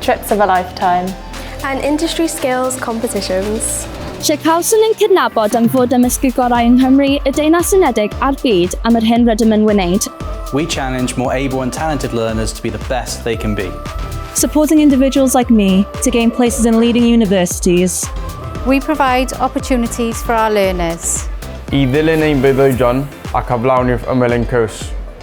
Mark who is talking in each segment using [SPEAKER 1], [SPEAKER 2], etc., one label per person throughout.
[SPEAKER 1] Trips of a
[SPEAKER 2] lifetime. And industry
[SPEAKER 3] skills competitions. Lle cawson
[SPEAKER 4] ein cydnabod am fod â mysg y gorau yng Nghymru, y Deyrnas Unedig a'r byd am yr hyn rydym yn wneud. We challenge
[SPEAKER 5] more able and talented learners to be the best they can be. Supporting
[SPEAKER 6] individuals like me to gain places in leading universities. We
[SPEAKER 7] provide opportunities for our learners. I ddilyn
[SPEAKER 8] ein breuddwydion ac aflawni'r ymyl ein cwrs.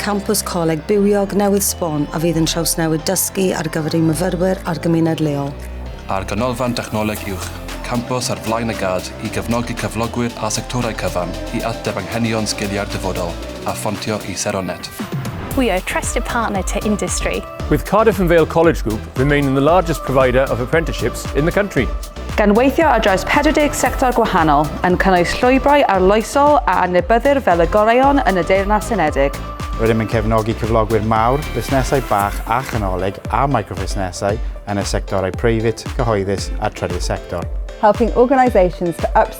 [SPEAKER 9] Campws Coleg Bywiog newydd sbon a fydd yn trawsnewid dysgu ar gyfer ein myfyrwyr a'r gymuned leol. A'r Ganolfan
[SPEAKER 10] Dechnoleg Uwch, campws ar flaen y gad i gefnogi cyflogwyr a sectorau cyfan i ateb anghenion sgiliau'r dyfodol a ffontio i sero net. We are a
[SPEAKER 2] trusted partner to industry. With Cardiff and Vale
[SPEAKER 11] College Group, remaining the largest provider of apprenticeships in the country. Gan weithio ar
[SPEAKER 12] draws 40 sector gwahanol, yn cynnwys llwybrau arloesol a adnabyddir fel y goreuon yn y Deyrnas Unedig, Rydym yn cefnogi
[SPEAKER 13] cyflogwyr mawr, busnesau bach a chanolig a microfusnesau yn y sectorau preifat, cyhoeddus a trydydd sector. helping
[SPEAKER 14] organisations to upskill